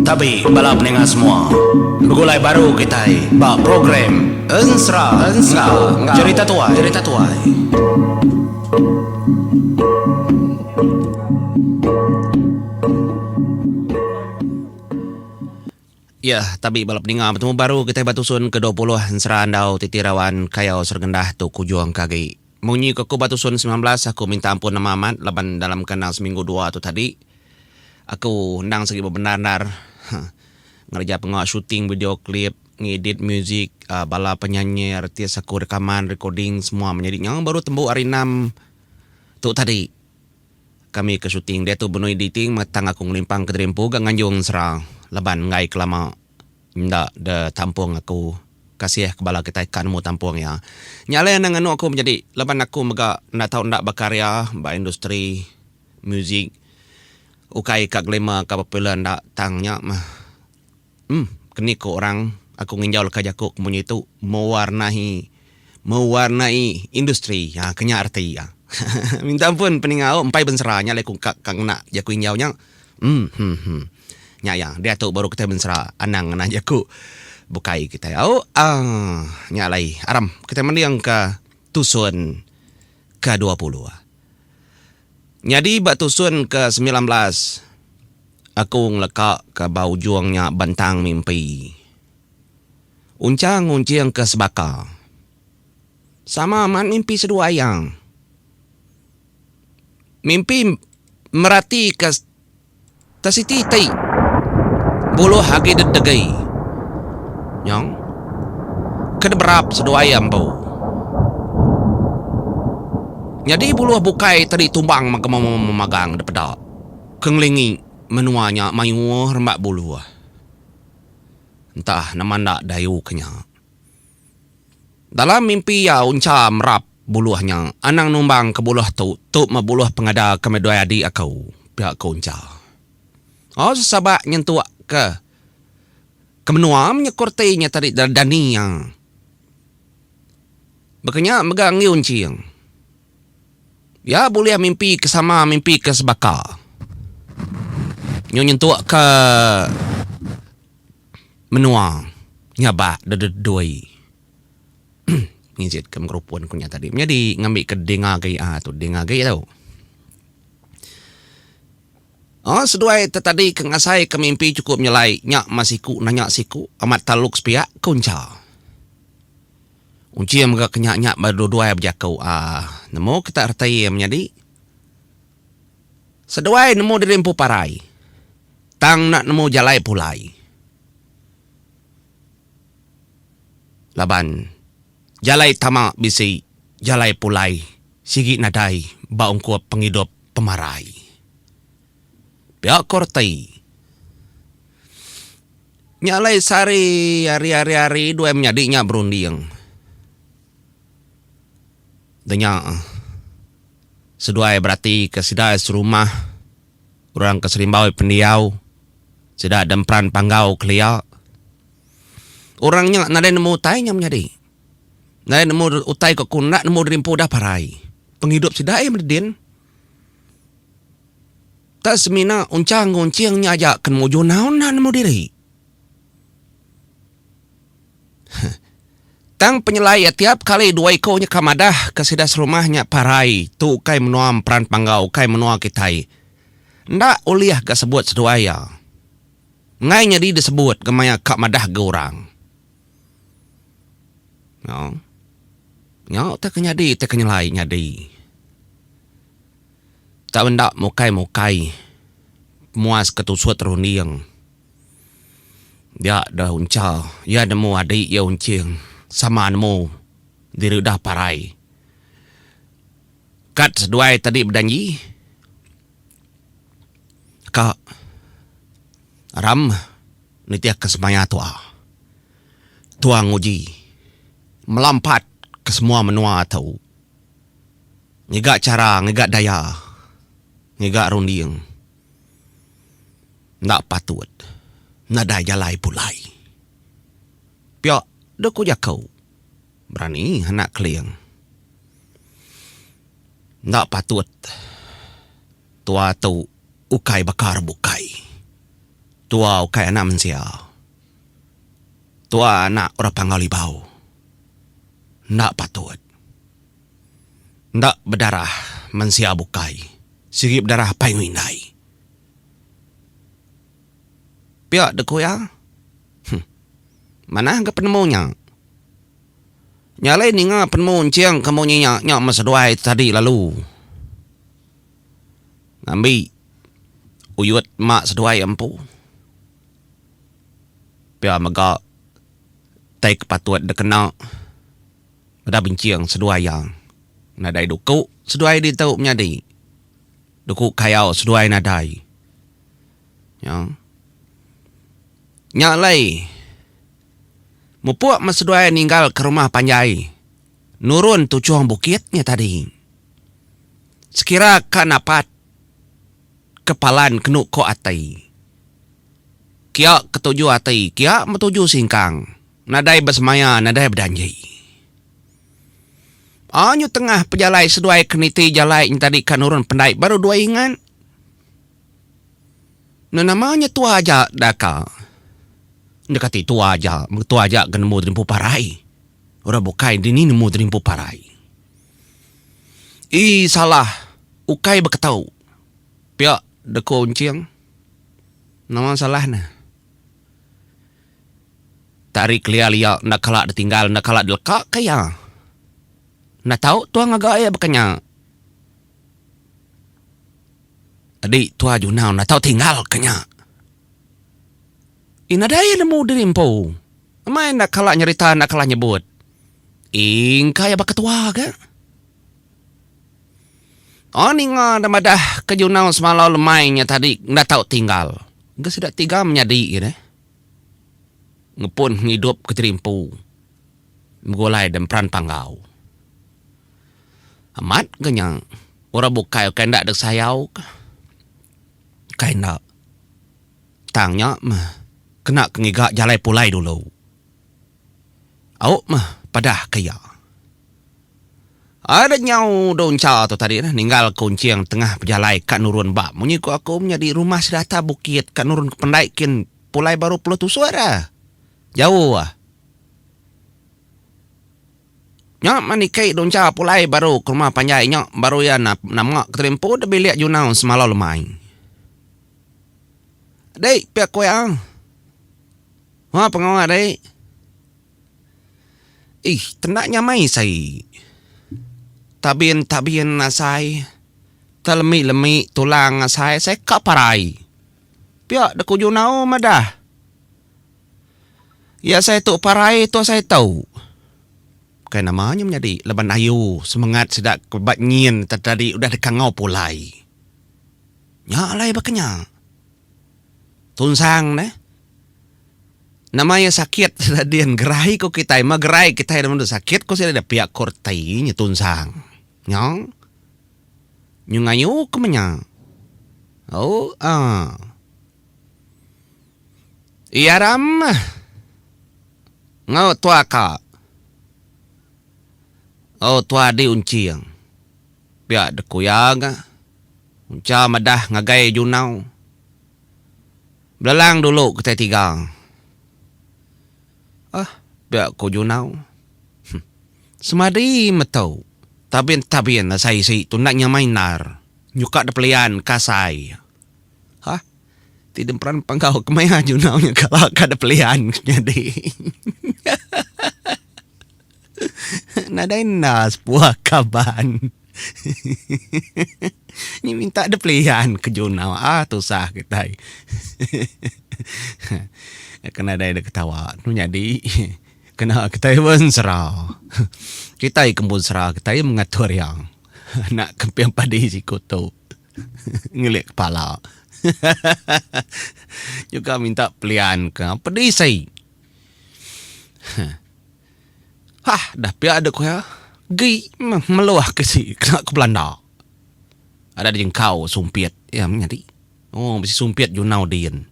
Tapi bala peninga semua, begulai baru kitai ba program Ensera enggau Cherita Tuai. Ya, tapi bala peninga betemu baru kitai ba tusun ke dua puluh Ensera Andau Titi Rawan Kayau Serengendah tu kujung ke agi. Munyi ke ku ba tusun semilan belas aku minta ampun nama amat laban dalam kandang seminggu dua tu tadi aku endang sigi bebendar endar ngereja pengawa shooting video klip, ngedit muzik bala penyanyi artis aku rekaman recording semua menyadi nyau baru tembu hari enam tu tadi kami ke shooting diatu benung editing mega tang aku ngelimpang ke diri empu ga nganjung sera laban enggai ke lama. Enda de tampung aku. Kasih ke bala kitai ka nemu tampung iya. Nya alai enda nganu aku menyadi laban aku mega enda tau enda bekarya ba industri muzik. Ukai ka glamour ka popular enda tang nya meh em keni ku orang aku nginjau leka jaku ku munyi tu mewarnai mewarnai industri ha ke nya reti iya. Minta ampun peningau empai bensera nya alai ku ka ngena jaku injau nya. Emhemh. Nya iya, diatu baru kitai mensera anang ngena jaku bukai kitai. Au aang, nya alai aram kitai mendingka tusun ke dua puluh. Nyadi ba tusun ke semilan belas, aku ngeleka ke ba ujung nya bentang mimpi. Unchang ngunching ke sebaka. Sama mat mimpi seduai iya. Mimpi meratika. Tang siti ti buluh agi didegi nyong ke diberap seduai iya empu. Nyadi buluh bukai ti ditumbang mega memagang dipeda ke ngelingi menua nya mayuh remba buluh. Entah nama enda dayuh ke nya. Dalam mimpi iya uncha merap buluh nya, anang numbang ke buluh tu, tu meh buluh pengada ke medai adi aku, pia ku uncha. Oh sesabak nyentuk ke ke menua menyekur ti nya tadi Dani iya. Baka nya mega enggi Unching. Iya bulih mimpi ke sama mimpi ke sebaka. Nyu nyentuk ke menua nya ba dededui ngijitka megerupun ku nya tadi menyadi ngambika ding agi aa tu ding agi tu. Aa seduai te tadi ke ngasaika mimpi chukup nyelai nya mas siku nanya siku amat taluk sepia ku encha. Unchi mega ke nya nya ba duduai bejaku aa nemu kita reti menyadi Seduai nemu diri empu parai. Tang enda nemu jalai pulai. Laban jalai tama bisi, jalai pulai sigi nadai ba ungkup pengidup pemarai. Pia ko reti nya alai sehari hari hari hari duai menyadi nya berunding. Denya seduai beratika sida serumah orang ke serimbau pendiau sida da emperan panggau kelia. Orang nya nadai nemu utai nya menyadi. Nadai nemu utai ke ku enda nemu dirimpu udah parai. Pengidup sida iya meda din. Tang semina unchang enggau enching nya aja ke nemu juna enda nemu diri. Tang penyelai iya tiap kali dua iku nya ka madah ke sida serumah nya parai tu ukai menua Mperan Panggau ukai menua kitai. Enda ulih ga sebut seduai iya. Enggai nyadi disebut ga maya ka madah ga orang. Nya. Nya utai ke nyadi utai ke nyelai nyadi. Tau enda mukai-mukai muas ke tusut runding. Dia deh uncha iya nemu adi iya unching sama nemu diri udah parai. Kad seduai tadi bejanji ka ram nitih ka semaya tua. Tua nguji melampat ke semua menua tu ngiga chara ngiga daya ngiga runding. Enda patut nadai jalai pulai. Pia deh ku jako. Berani anak Keling. Enda patut tua tu ukai baka rebukai. Tua ukai anak mensia. Tua anak orang Panggau Libau. Enda patut. Enda bedarah mensia bukai, sigi bedarah apai enggau indai. Pia dek ku iya. Huh. Manah ga penemu nya. Nya alai ninga penemu enching ke munyi nya, nya meh seduai tadi lalu. Ngambi uyut mak seduai empu. Pia mega tai ke patut dikena. Meda benching seduai iya. Nadai duku seduai ditu menyadi. Duku kayau seduai nadai. Nya. Nya alai. Mupuk meh seduai ninggal ke rumah panjai. Nurun tuchung bukit nya tadi. Sekira ka napat ke palan kenu ko ati. Kia ketuju ati, kia metuju singkang. Nadai besemaya, nadai bejanji. Anyu tengah pejalai seduai ke niti jalai nyentadi ka nurun pendai baru dua ingat. Enda nama nya tua aja da ka. Enda kati tua aja, mega tua aja ke nemu terimpu parai. Orang bukai dini nemu terimpu parai. Ii salah ukai beketau. Pia da ku Enching. Nama salah ne. Tak ari kelia lia enda kala ditinggal enda kala dileka ka iya. Enda tau tua ngaga iya baka nya. Adi tua Junau enda tau tinggal ka nya. Ih nadai nemu diri empu. Emai enda kala nyerita enda kala nyebut. Ih engka iya baka tua ga. Oh ninga deh madah ke Junau semalau lemai nya tadi enda tau tinggal. Ga sida ti ga menyadi iya deh. ngepun pengidup ke terimpu begulai da emperan panggau. Amat ke nya orang bukai ukai enda dek sayau ka. Ukai enda. Tang nya meh kena ke ngiga jalai pulai dulu. Au meh padah ka iya. Ada nyau Donca tu tadi nah ninggal Kunching tengah bejalai ka nurun ba munyi ku aku menyadi rumah sida atas bukit ka nurun ke pendai kin pulai baru puluh tusuk ra. Jauh ah. Nya mah niki Donca pulai baru ke rumah panjai nya baru iya nama ke tadi empu da bilik Junau semalau lemai. Dei pia ku iya. Wah pengawa dai. Ih tenda nyamai sai. Tabin tabin asai. Telemi lemi tulang asai sai ka parai. Pia de kuju nau madah. Ya sai tu parai tu sai tau. Bukai nama nya menyadi laban ayu semengat sida ke ba nyin tadi udah dikangau pulai. Nya alai baka nya. Tunsang neh. Nama iya sakit sida din gerai ku kitai meh gerai kitai nemu deh sakit ku sida pia ku reti nya tunsang. Nyau. Nyu ngayu ke meh nya. Ooh aah. Iya ram meh. Ngau tua ka. Oh tua di unching. Pia Dekuyang munca madah ngagai Junau. Belalang dulu kitai tiga. Aah, pia ku Junau. Huh. Semadi metu, tabin-tabin asai isi tu enda nyamai endar. Nyuka da pelian ka asai. Hah. Ti demperan panggau kemaya Junau nya kala ka da pelian nyadi. Nadai enda sepuah kaban. Nyi minta dep lian ke junau ah tusah kitai. Ke nadai dek ketawa tu nyadi kena kitai bensera. Kitai ke empu sera kitai mengatur iya anak kemping padi siku tu ngelik kepala. Juga minta pelian ke pedisai. Hah dah pia dek kuya gi meluah ke si kena ke belanda. Ada di engkau sumpit iya meh nyadi. Oh bisi sumpit junau din.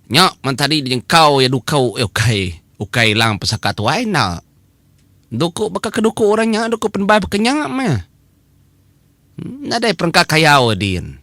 Nya man tadi di engkau iya dukau eh ukai ukai lang pesaka tuai enda. Duku baka ke duku orang nya duku penebal baka nya meh. Nadai perengka kayau din.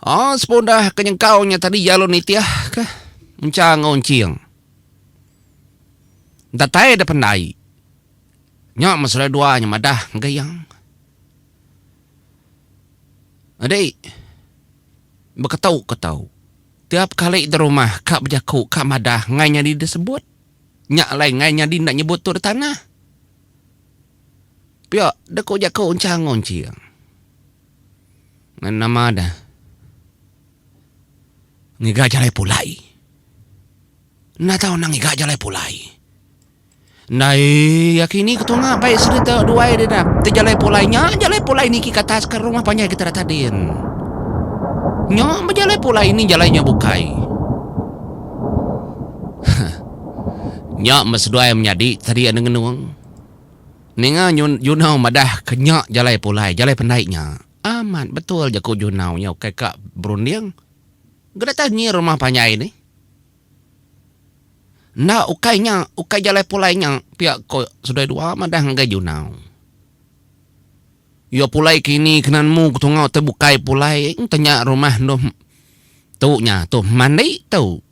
Oh sepundah ke nyengkau nya tadi jalu nitih ke encha enggau enching. Datai deh pendai. Nya meh selai dua nya madah ngagai iya. Adi beketu ke tau. Tiap kali di rumah ka bejaku ka madah ngai nyadi deh sebut. Nya alai ngai nyadi enda nyebut tu deh tanah. Pia deh ku jaku encha enggau enching. Ngan nama dah ngiga jalai pulai. Enda tau nang ngiga jalai pulai. Ndai ya kini ke tunga bai serita duai deh dah. Ti jalai pulai nya jalai pulai niki ke atas ke rumah panjai kita dah tadi. Nya meh jalai pulai ni jalai nya bukai. Huh. Nya meh seduai menyadi tadi anu ngenung. Ninga Junau madah ke nya jalai pulai, jalai pendai nya. Amat betul ja ku Junau nya ukai ka berunding. Gedatai nyi rumah panjai nih. Enda ukai nya, ukai jalai pulai nya pia ko Sudai Dua madah ngagai Junau. Iyo pulai ke ini kena nemu ke tungau tu bukai pulai enti nya rumah endur tu nya tu mandi tu.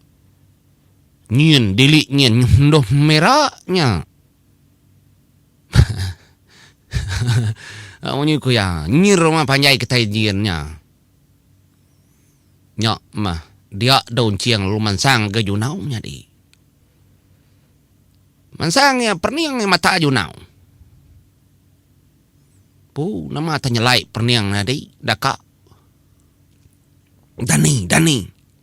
Nyin dili nyin endur mira nya. Munyi ku iya, nyi rumah panjai kitai nyin nya. Nya mah, dia dau enching lalu mansang ga Junau nyadi. Mansang iya pening iya mata Junau. Pu, nama tanyelai pening nyadi daka. Dani, dani.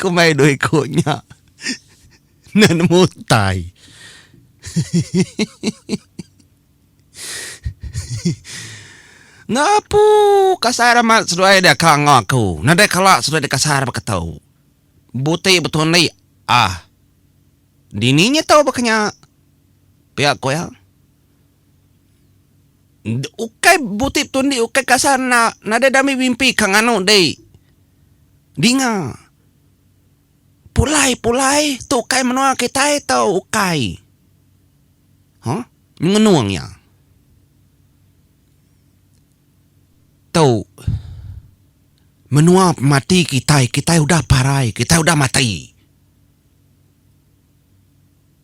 Kumbai dua iku nya enda nemu utai. Ngapu kasar amat seduai dia ka enggau aku. Nadai kala seduai dia kasar baka tu. Buti betul andi ah. Dini nya tau baka nya. Pia ku iya. Ukai buti betul indi ukai kasar enda nadai dami mimpi ka nganu dei dinga pulai pulai tu ukai menua kitai tau ukai huh nyengenung iya tau menua pemati kitai kitai udah parai kitai udah mati.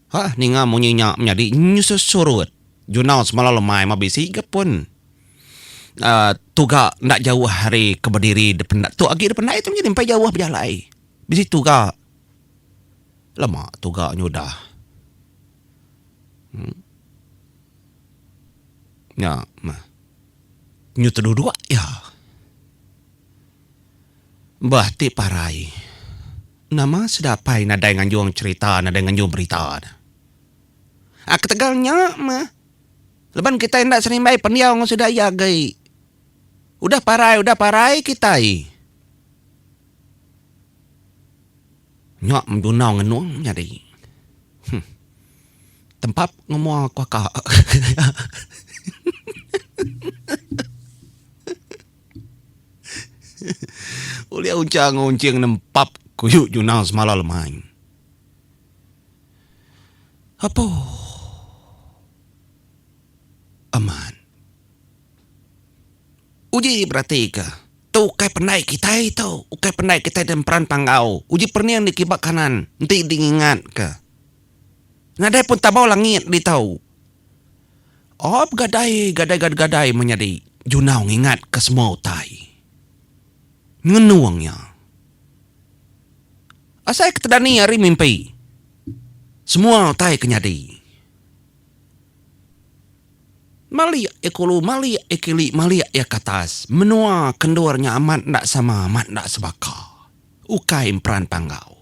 Hah ninga munyi nya menyadi nyusut surut jurnal semalam lemai mah bisi ga pun uhh tuga enda jauh ari ke bediri dependai tu agi dependai tu nyadi mpai jauh bejalai bisi tuga lama tuga nyudah uhh nya mah nyudah duduk iya. Bah ti parai. Nama sida apai nadai nganjung cherita nadai nganjung berita ne. A ketegal nya meh laban kitai enda senimbai pendiau enggau sida iya agei. Udah parai udah parai kitai. Nya menunau ngenung nyadi. Huh. Tempap ngemua kuaka. Ulih unchang enggau unching nempap kuyu nyunal semala lemai. Apo amat uji beratika tu ukai pandai kitai tu ukai pandai kitai da mperan panggau uji perning diki ba kanan enti di ngingat ka nadai pun tabau langit ditu. Op gadai gadai ga gadai menyadi junau ngingat ke semua utai. Ngenung iya. Asai ke tedani ari mimpi semua utai ke nyadi. Malik iya kulu malik iya kili malik iya katas menua ke endur nya amat enda sama amat enda sebaka. Ukai emperan panggau.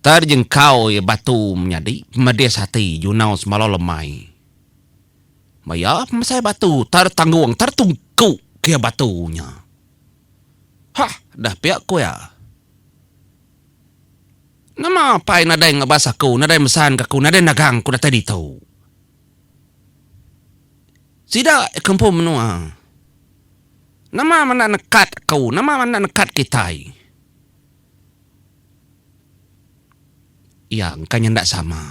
Tar jengkau iya batu menyadi pemedis ati junau semalau lemai. Ba iya pemesai batu tar tanggung tar tungku ke iya batu nya. Hah deh pia ku iya. Nama pai nadai ngebas aku nadai mesanka aku nadai nagang ku datai ditu. Sida iya ke empu menua. Nama menda nekat aku nama menda nekat kitai. Iya engka nya enda sama.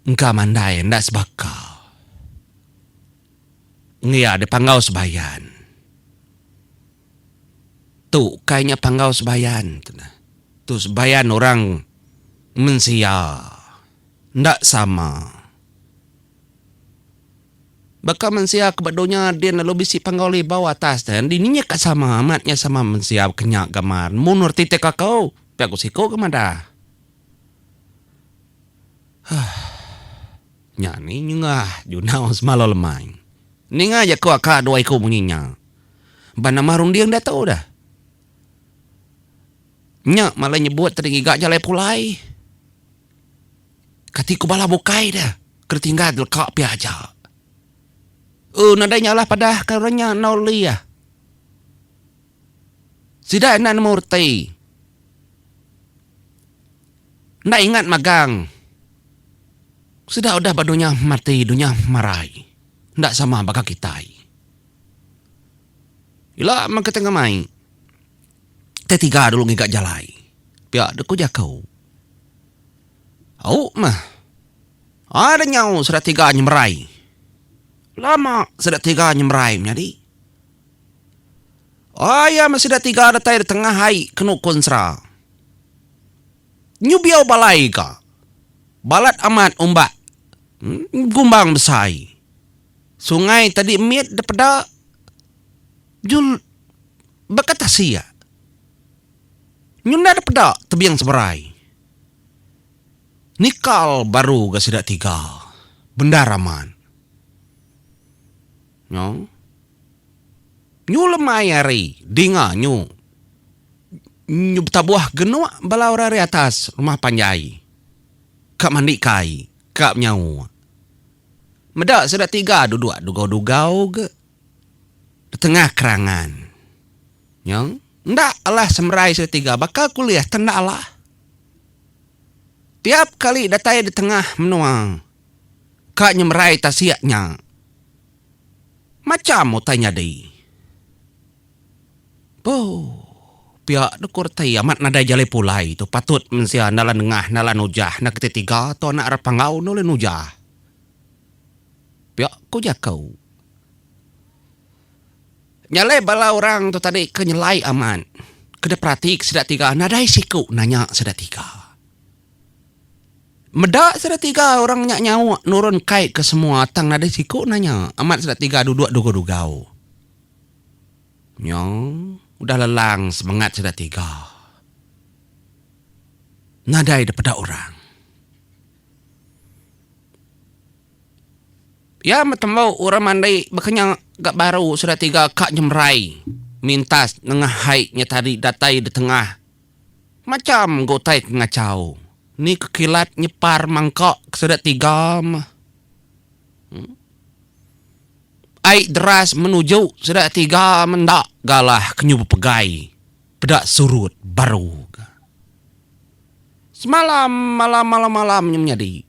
Engka mandai enda sebaka. Ngin iya deh panggau sebayan. Tu ukai nya panggau sebayan tu neh. Tu sebayan orang mensia. Enda sama. Baka mensia ke ba dunya din lalu bisi panggau libau atas tu, dini nya ka sama amat nya sama mensia baka nya gamal nemu nur titik aku, pia ku siku ke madah. Huh. Nya ni nyengah junau semalau lemai. Ninga aja ku aka dua iku munyi nya. Ba nama runding diatu dah. Nya malai nyebut tadi ngiga jalai pulai. Kati ku bala bukai dia, ke ditinggal deleka pia aja. Uh nadai nya alah padah ka orang nya endur lih. Sida enda nemu reti. Enda ingat magang. Sida udah ba dunya mati, dunya marai. Enda sama baka kitai. Ila mega tengah mai. Te tiga dulu ngiga jalai. Pia dek ku jako. Au mah. Ada nyau sida tiga nyemerai. Lama sida tiga nyemerai menyadi. Aya mah sida tiga datai de tengah ai ke nukun sera. Nyu biau balai ga. Balat amat umbak. Gumbang besai. Sungai tadi mit de peda. Jul baka tasi iya. Nyundar peda tebing seberai. Nikal baru ga sida tiga. Bendar amat. Nyo. Nyu lemai ari dinga nyu. Nyu betabuh genuk bala orang ari atas rumah panjai. Ka mandi kai. Ka menyau. Meda sida tiga duduk dugau-dugau ga. Betengah kerangan. Nyong. Enda alah semerai sida tiga baka ku lih tang enda alah. Tiap kali datai detengah menua ka nyemerai tasik nya. Macham utai nyadi. Boo. Pia deh ku reti amat nadai jalai pulai tu patut mensia enda la nengah enda la nujah enda keti tiga tu anak ira panggau enda ulih nujah. Pia ku jaku. Nyalai bala orang tu tadi ke nyelai amat ke diperati ke sida tiga nadai siku nanya sida tiga. Meda sida tiga orang nya nyauk nurun kai ke semua tang nadai siku nanya amat sida tiga duduk dugau-dugau. Nyo udah lelang semengat sida tiga nadai dipeda orang. Iya metembu orang mandi bekenyau gak baru sereta tiga ka nyemerai mintas nengah hai nya tadi datai ditengah macham ga utai ke ngachau ni ke kilat nyepar mangka ke sida tiga meh ai deras menuju sida tiga menda galah ke nyu bepegai. Peda surut baru ke. Semalam malam malam malam nya menyadi.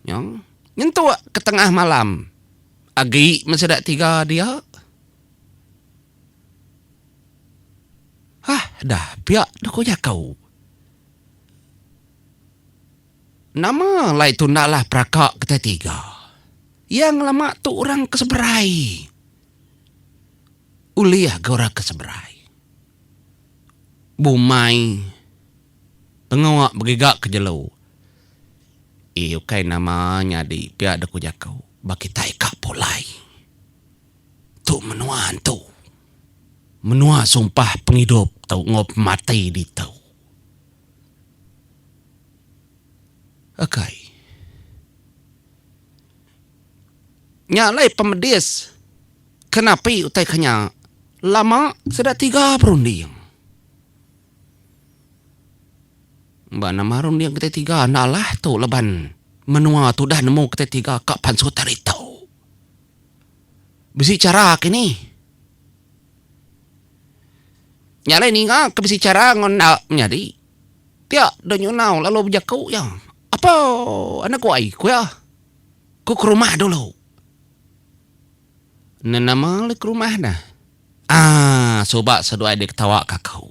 Nyong nyentuk ke tengah malam agi men sida tiga dia. Hah dah pia deh ko jako. Nama alai tu enda lah peraka kitai tiga. Iya ngelama tu orang ke seberai. Ulih ke orang ke seberai. Bumai pengawa begiga ke jelu. Ii ukai nama nyadi pia da ku jaku ba kitai ka pulai. Tu menua antu. Menua sumpah pengidup tu enggau pemati ditu. Ukai. Nya alai pemedis ke napi utai ke nya. Lama sida tiga berunding. Ba nama runding kitai tiga enda alah tu laban menua tu udah nemu kitai tiga ka pansut hari tu. Bisi chara ke ni. Nya alai ninga ke bisi chara enggau enda menyadi. Pia deh nyunau lalu bejaku iya. Apo anak ku ai, ku iya. Ku ke rumah dulu. Enda nama le ke rumah ne. Aaa suba seduai deh ketawa ke aku.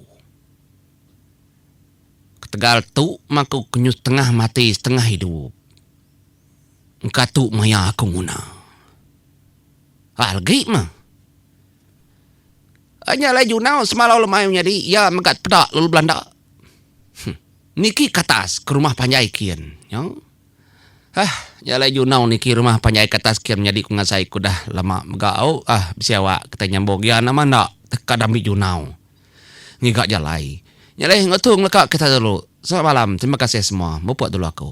Ketegal tu meh aku kenyuh setengah mati setengah idup. Engka tu maya aku nguna. Hah legi meh. Nya alai Junau semalau le mayuh nyadi iya mega peda lalu belanda. Huh. Niki katas ke rumah panjai kin nyau. Hah nya alai junau niki rumah panjai katas kin menyadi ku ngasai ku dah lama mega au ah bisi awak kitai nyambung iya nama enda teka dambi junau ngiga jalai. Nya alai enggau tu ngeleka kisah dulu. Selamat malam terima kasih semua mupuk dulu aku.